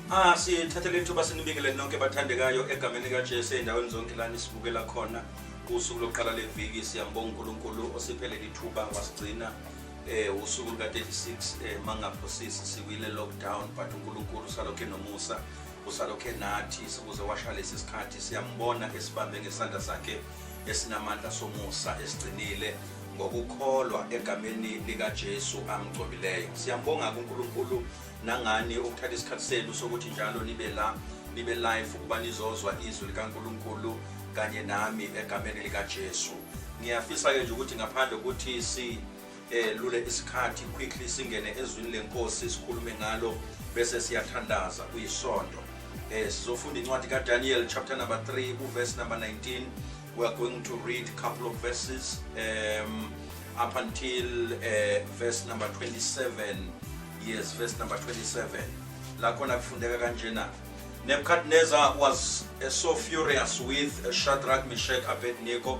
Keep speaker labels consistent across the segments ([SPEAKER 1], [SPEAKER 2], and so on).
[SPEAKER 1] Ah sithathe le thuba sinibingelele nonke bathandekayo egameni kaJesu endaweni zonke la nisibukela khona usuku lokuqala leviki siyambonga uNkulunkulu osiphele ithuba wasigcina eh usuku luka 36 eh mangaphosisi sikwile lockdown but uNkulunkulu usalokhe nomusa usalokhe nathi sikuze washa lesi sikhathi siyambona esibambe ngesandla sakhe esinamandla somusa esigcinile ngokukholwa egameni likaJesu amgcobileyo. Siyambonga kuNkulunkulu nangani ukuthatha isikhathi senu sokuthi njalo nibe la nibe live ukuba nizozwa izwi likaNkulunkulu kanye nami egameni likaJesu. Ngiyafisa ke nje ukuthi ngaphandle ukuthi si eh lule isikhathi quickly singene ezwini lenkosi sikhulume ngalo bese siyathandaza kuyisonto eh sizofunda incwadi kaDaniel chapter number 3 uverse number 19 we are going to read a couple of verses um up until uh, verse number 27 yes verse number 27 la khona kufundeka kanjena Nebuchadnezzar was uh, so furious with uh, Shadrach, Meshach, Abednego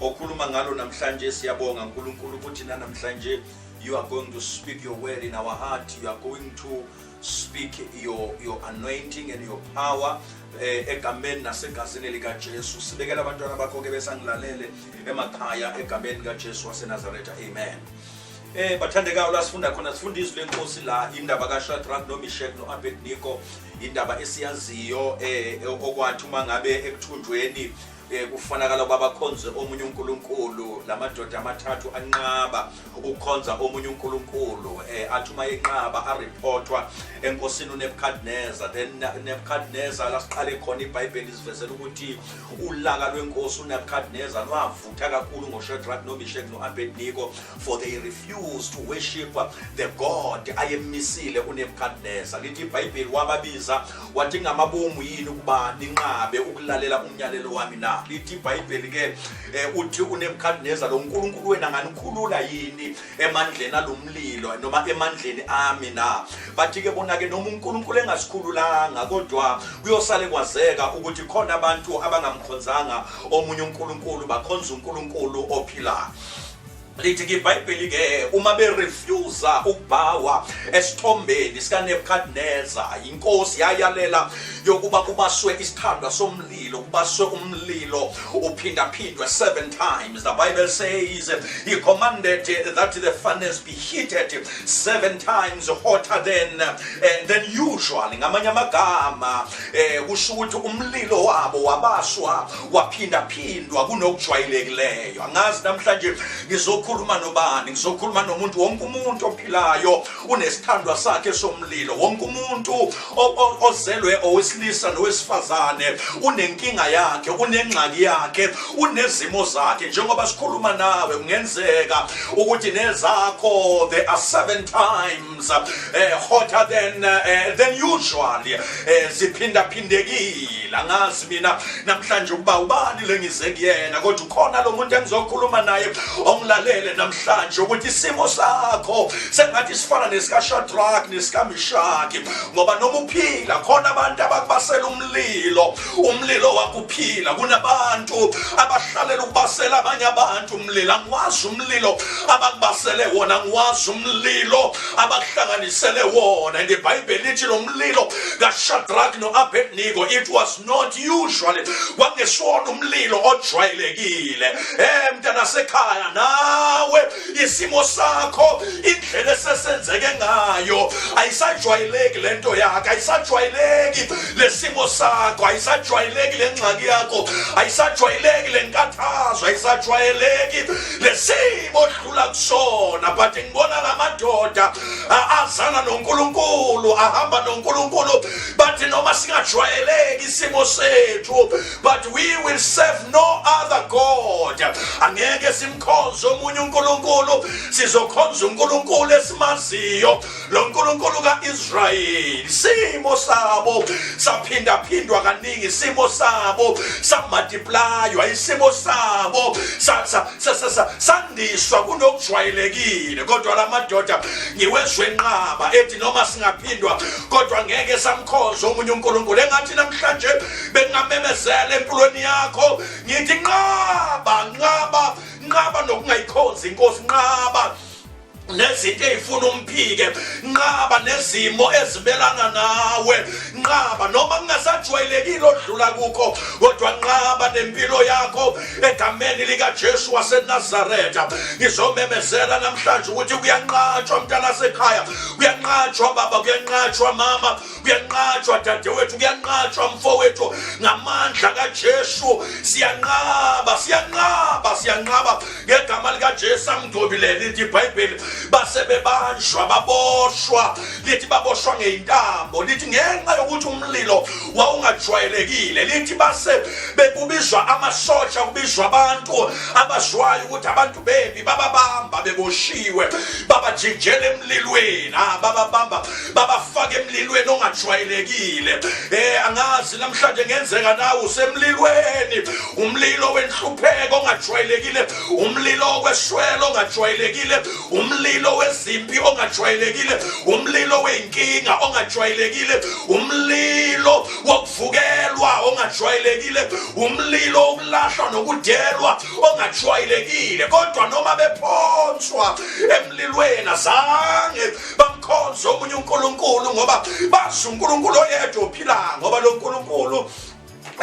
[SPEAKER 1] okhuluma ngalo namhlanje siyabonga uNkulunkulu ukuthi nanamhlanje you are going to speak your word in our heart you are going to speak your your anointing and your power eh, egameni nasegazini likaJesu sibekela abantwana bakho ke besangilalele emakhaya egameni likaJesu waseNazaretha amen eh bathandekayo la sifunda khona sifunda izwi lenkosi la indaba kaShadrach noMeshach noAbednego indaba esiyaziyo eh okwathi uma ngabe ekuthunjweni Eh, kufanakala ukuba bakhonze omunye unkulunkulu la madoda amathathu anqaba ukukhonza omunye unkulunkulu um eh, athi uma yenqaba ariphothwa enkosini unebukadneza then nebukadneza lasiqale khona ibhayibheli isivezela ukuthi ulaka lwenkosi unebukadneza lwavutha kakhulu ngoshedrack nomishek no-abedniko for they refuse to worship the god ayemisile unebukadnesa lithi ibhayibheli wababiza wathi ngamabomu yini ukuba ninqabe ukulalela umyalelo wami na lithi ibhayibheli ke eh, uthi unebukadnesa lo nkulunkulu wena nganikhulula yini emandleni alomlilo noma emandleni ami na bathi ke bona ke noma unkulunkulu engasikhululanga kodwa kuyosale kwazeka ukuthi khona abantu abangamkhonzanga omunye unkulunkulu bakhonza unkulunkulu ophilayo lithi ke ibhayibheli ke uma berefusa ukubhawa esithombeni sikanebukadneza yinkosi yayalela yokuba kubaswe isithandwa somlilo kubaswe umlilo uphindaphindwe seven times the bible says he commanded that the furnace heated seven times hotter than uh, than usual ngamanye amagama eh kusho ukuthi umlilo wabo wabaswa waphinda phindwa kunokujwayilekileyo angazi namhlanje ngizokhuluma nobani ngizokhuluma nomuntu wonke umuntu ophilayo unesithandwa sakhe somlilo wonke umuntu ozelwe owesilisa nowesifazane unenkinga yakhe unengxaki yakhe unezimo zakhe njengoba sikhuluma nawe kungenzeka ukuthi nezakho they are seven times eh, hotter than, eh, than usual eh, ziphindaphindekile angazi mina namhlanje ukuba ubani lengize kuyena kodwa ukhona lo muntu engizokhuluma naye ongilalele namhlanje namhlanje ukuthi isimo sakho sengathi sifana nesikashadraki nesikamishaki ngoba noma uphila khona abantu abakubasela umlilo umlilo wakuphila kunabantu abahlalela ukubasela abanye abantu umlilo angiwazi umlilo abakubasele wona angiwazi umlilo abakuhlanganisele wona and ibhayibheli lithi lo mlilo kashadraki no-abednigo it was not usually kwakungesiwona umlilo ojwayelekile eh mntana sekhaya nawe isimo sakho indlela esesenzeke ngayo ayisajwayeleki lento yakho ayisajwayeleki lesimo sakho ayisajwayeleki lengxaki yakho ayisajwayeleki lenkathazo ayisajwayeleki lesimo odlula kusona but ngibona lamadoda azana noNkulunkulu ahamba noNkulunkulu bathi noma singajwayeleki isimo sethu but we will serve no other god angeke simkhonze omunye unkulunkulu sizokhonza unkulunkulu esimaziyo lo nkulunkulu ka-israyeli simo sabo saphindaphindwa kaningi isimo sabo samadiplaywa isimo sabo sandiswa kunokujwayelekile kodwa la madoda ngiwezwe nqaba ethi noma singaphindwa kodwa ngeke samkhonza omunye unkulunkulu engathi namhlanje bengingamemezela empilweni yakho ngithi nqaba nqaba nqaba nokungayikhonzi inkosi nqaba nezinto eyifuna umphike nqaba nezimo ezimelana nawe nqaba noma kungasajwayelekile odlula kukho kodwa nqaba nempilo yakho egameni likaJesu waseNazaretha ngizomemezela namhlanje ukuthi kuyanqatshwa mntana sekhaya kuyanqatshwa baba kuyanqatshwa mama kuyanqatshwa dadewethu kuyanqatshwa mfowethu ngamandla kaJesu siyanqaba siyanqaba siyanqaba ngegama likaJesu angidobile lithi iBhayibheli base bebanjwa baboshwa lithi baboshwa ngeintambo lithi ngenxa yokuthi umlilo wawungajwayelekile lithi base bekubizwa amasosha kubizwa abantu abazwayo ukuthi abantu bembi bababamba beboshiwe babajijela emlilweni ah, bababamba babafaka emlilweni ongajwayelekile eh angazi namhlanje ngenzeka nawe usemlilweni umlilo wenhlupheko ongajwayelekile umlilo weswelo ongajwayelekile umlilo wezimpi ongajwayelekile umlilo weyinkinga ongajwayelekile umlilo wokuvukelwa ongajwayelekile umlilo ukulahlwa nokudelwa ongajwayelekile kodwa noma bephonswa emlilweni azange bamkhonze omunye uNkulunkulu ngoba bazi uNkulunkulu oyedwa ophilayo ngoba lo Nkulunkulu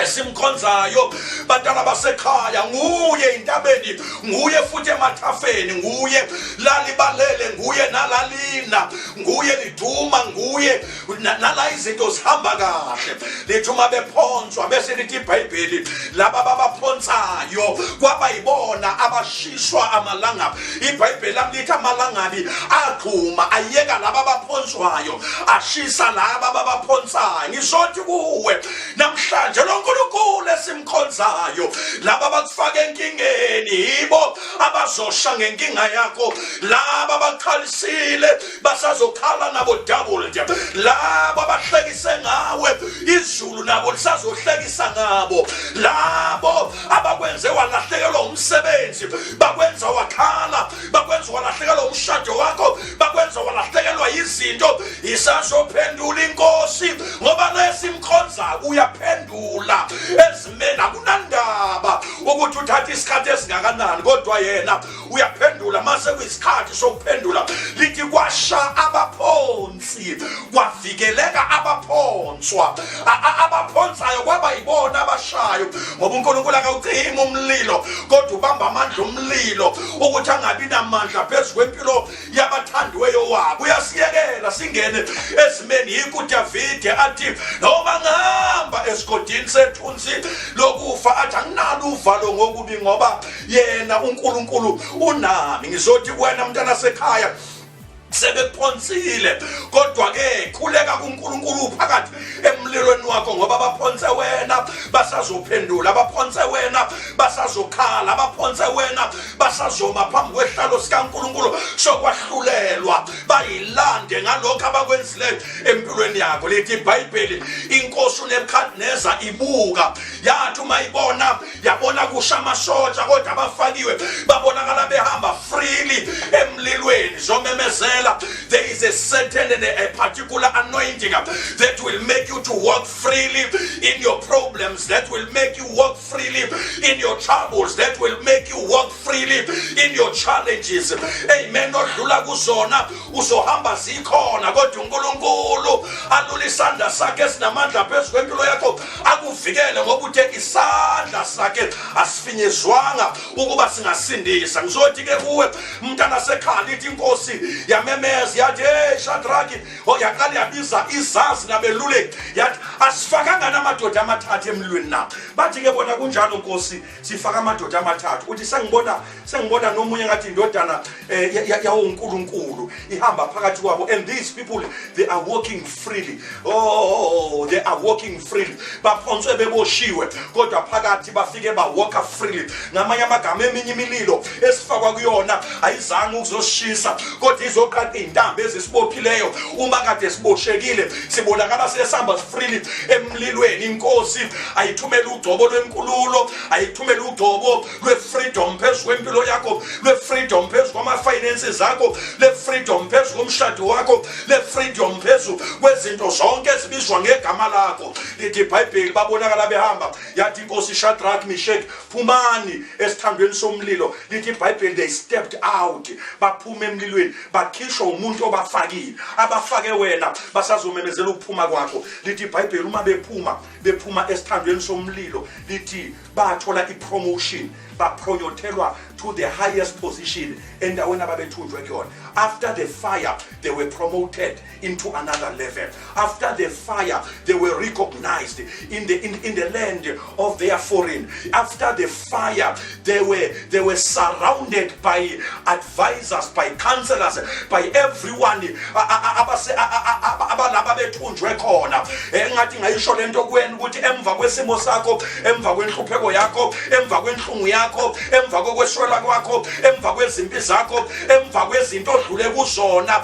[SPEAKER 1] esimkhonzayo bantwana basekhaya nguye intabeni nguye futhi emathafeni nguye lalibalele nguye nalalina nguye liduma nguye nala izinto zihamba kahle lithi uma bephonswa bese lithi ibhayibheli laba babaphonsayo kwaba yibona abashiswa amalangaba ibhayibheli lami lithi amalangabi agxuma ayeka laba baphonswayo ashisa laba babaphonsayo ngizothi kuwe namhlanje lo nkulunkulu esimkhonzayo laba bakufaka enkingeni yibo abazosha ngenkinga yakho laba bakhalisile basazokhala nabo double nje labo abahlekise ngawe izulu nabo lisazohlekisa ngabo labo abakwenze walahlekelwa umsebenzi bakwenza wakhala bakwenza walahlekelwa umshado wakho bakwenza walahlekelwa izinto isazophendula inkosi ngoba nesimkhonzayo uyaphendula ezimeni akunandaba ukuthi uthatha isikhathi esingakanani kodwa yena uyaphendula mase kuyisikhathi sokuphendula lithi kwasha abaphonsi kwavikeleka abaphonswa abaphonsayo kwaba yibona abashayo ngoba uNkulunkulu akawucima umlilo kodwa ubamba amandla omlilo ukuthi angabi namandla phezu kwempilo yabathandiweyo wabo uyasiyekela singene ezimeni yikho uDavide athi noma ngihamba esigodini sethunzi lokufa athi anginalo uvalo ngokubi ngoba yena uNkulunkulu unami ngizothi wena mntana sekhaya sebephonsile kodwa ke khuleka kuNkulunkulu phakathi emlilweni wakho ngoba baphonse wena basazophendula abaphonse wena basazokhala abaphonse wena basazoma phambi kwehlalo sikaNkulunkulu sokwahlulelwa bayilande ngalokho abakwenzileyo empilweni yakho lithi iBhayibheli inkosi uNebukadneza ibuka yathi uma ibona yabona kusha amashotsha kodwa abafakiwe babonakala behamba freely emlilweni zomemezela there is a certain and a particular anointing that will make you to walk freely in your problems that will make you walk freely in your troubles that will make you walk freely in your challenges amen odlula kuzona uzohamba zikhona kodwa uNkulunkulu alula isandla sakhe sinamandla phezulu kwempilo yakho akuvikele ngoba uthe isandla sakhe asifinyezwanga ukuba singasindisa ngizothi ke kuwe mntana sekhala ithi inkosi yamemeza yathi hey shadraki oh, yaqala yabiza izazi nabeluleki yathi asifakanga namadoda amathathu emlweni na bathi ke bona kunjalo nkosi sifaka amadoda amathathu uthi sengibona sengibona nomunye ngathi indodana eh, yawuNkulunkulu ihamba phakathi kwabo and these people they are walking freely oh they are walking freely baphonswe beboshiwe kodwa phakathi bafike bawalka freely ngamanye amagama eminye imililo esifakwa kuyona ayizange ukuzoshisa kodwa izoqaqa izintambo ezisibophileyo uma kade siboshekile sibonakala sesihamba sifrili emlilweni inkosi ayithumele ugcobo lwenkululo ayithumele ugcobo lwefreedom phezu kwempilo yakho lwefreedom phezu kwama-finances akho lefreedom phezu komshado wakho lefreedom phezu kwezinto zonke ezibizwa ngegama lakho lithi ibhayibheli babonakala behamba yathi inkosi ishadrack mishek phumani esithandweni somlilo lithi ibhayibheli they stepped out baphuma emlilweni bakhishwa umuntu obafakile abafake wena basazomemezela ukuphuma kwakho lithi ibhayibheli uma bephuma bephuma esithandweni somlilo lithi bathola ipromotion bapronyothelwa to the highest position endaweni ababethunjwe kuyona after the fire they were promoted into another level. After the fire, they were recognized in the in, in the land of their foreign. After the fire, they were they were surrounded by advisors, by counselors, by everyone. abalaba bethunjwe khona engathi ngayisho lento kuwena ukuthi emva kwesimo sakho emva kwenhlupheko yakho emva kwenhlungu yakho emva kokweshwela kwakho emva kwezimpi zakho emva kwezinto odlule kuzona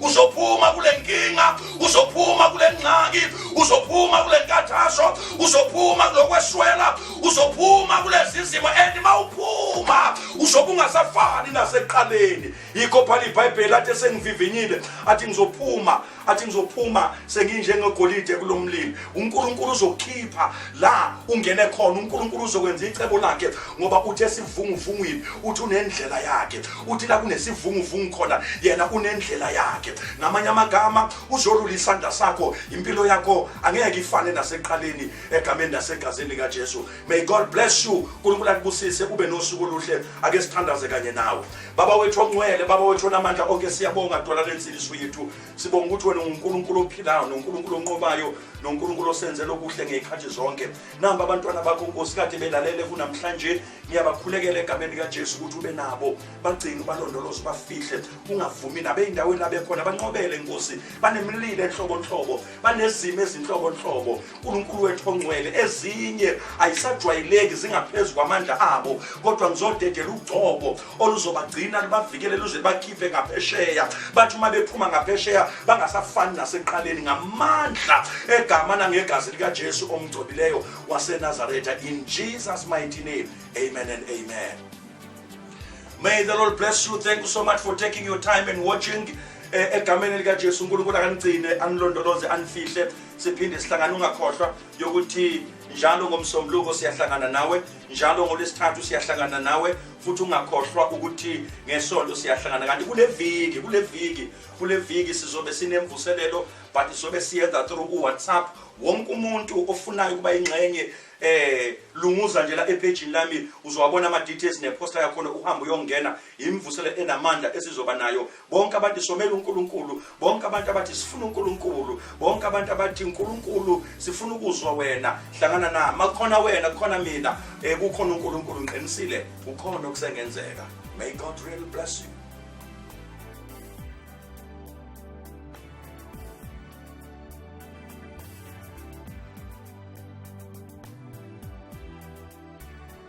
[SPEAKER 1] uzophuma kule nkinga uzophuma kule ngxaki uzophuma kule nkathazo uzophuma kulokweswela uzophuma kulezi zimo and uma uphuma uzobe ungasafani nasekuqaleni yikho phana ibhayibheli athi sengivivinyile athi ngizophuma athi ngizophuma senginjengegolide kulo mlilo unkulunkulu uzokhipha la ungene khona unkulunkulu uzokwenza icebo lakhe ngoba uthi esivunguvungwini uthi unendlela yakhe uthi la kunesivunguvungu khona yena unendlela yakhe ngamanye amagama uzolula isandla sakho impilo yakho angeke ifane naseqaleni egameni nasegazini likaJesu may god bless you uNkulunkulu akubusise ube nosuku oluhle ake sithandaze kanye nawe baba wethu ongcwele baba wethu onamandla onke siyabonga dola lensindiso yethu sibonga ukuthi wena unguNkulunkulu ophilayo noNkulunkulu onqobayo noNkulunkulu osenzela okuhle ngezikhathi zonke namba abantwana bakho nkosi kade belalele kunamhlanje ngiyabakhulekela egameni likajesu ukuthi ube nabo bagcine ubalondoloze ubafihle ungavumi nabo ey'ndaweni labekhona banqobele nkosi banemililo enhlobonhlobo banezimo ezinhlobonhlobo unkulunkulu wethu ongcwele ezinye ayisajwayeleki zingaphezu kwamandla abo kodwa ngizodedela ugcobo oluzobagcina lubavikele luze bakhiphe ngaphesheya bathi uma bephuma ngaphesheya bangasafani nasekuqaleni ngamandla egama nangegazi likaJesu omgcobileyo waseNazaretha in Jesus mighty name amen and amen May the Lord bless you thank you so much for taking your time and watching eh, egameni likaJesu uNkulunkulu akanigcine anilondoloze anifihle siphinde sihlangana ungakhohlwa yokuthi njalo ngomsombuluko siyahlangana nawe njalo ngolwesithathu siyahlangana nawe futhi ungakhohlwa ukuthi ngesonto siyahlangana kanti kule viki kule viki kule viki sizobe sinemvuselelo but sizobe siyenza through uwhatsapp wonke umuntu ofunayo ukuba ingxenye eh lunguza nje la ephejini lami uzowabona ama details ne poster yakhona uhamba uyongena imvusele enamandla esizoba nayo bonke abantu somela uNkulunkulu bonke abantu abathi sifuna uNkulunkulu bonke abantu abathi uNkulunkulu sifuna ukuzwa wena hlangana na makukhona wena kukhona mina eh kukhona uNkulunkulu ngiqinisile ukhona okusengenzeka may god really bless you